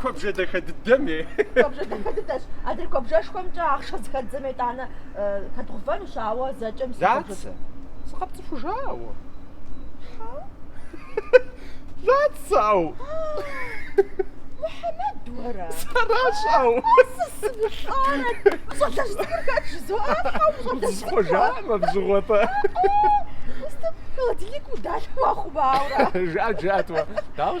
Куэбжэ дахэ дыдэми. Куэбжэ дахэ дыдэщ. Адрей куэбжэшхуэмкӏэ ахъшэ зэхэддзэм етӏанэ хэдгъэувэнущ, ауэ зэкӏэм Лацэ, сыкъэпцӏыхужа уэ. Лацэу. Мухьэмэд, уэра? Сэращ, ӏэу. Сымылӏэрэ. Уи щӏалэжь цӏыкӏур хэт жызоӏэ? Ущӏалэжь. Схъуэжамэ бзыгъуэпӏэ. Устым холодильник удалъхуа хъумауэ. Жаӏэт, жаӏэт уэ. Дауэ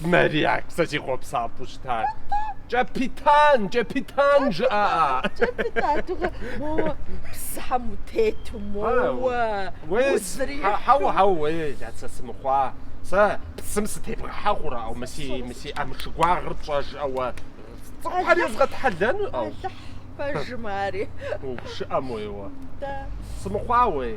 Мария, сэ си хъуэпсапӏэу щытар. Кӏэпитан, кӏэпитан жыӏа? Кӏэпитан, дыгъэ, моуэ псыщхьэм утету, моуэ. Уей, хьэуэ, хьэуэ, уей, сэ сымыхъуа. Сэ псым сытебгъэхьэ хъурэ, мы си, мы си ӏэмшы гуагъыр пщӏэжкъэ уэ. Цӏыхухэр езгъэтхьэлэну? Алыхь пэжым ари. Упщыӏэм уейуэ. Сымыхъуа, уей.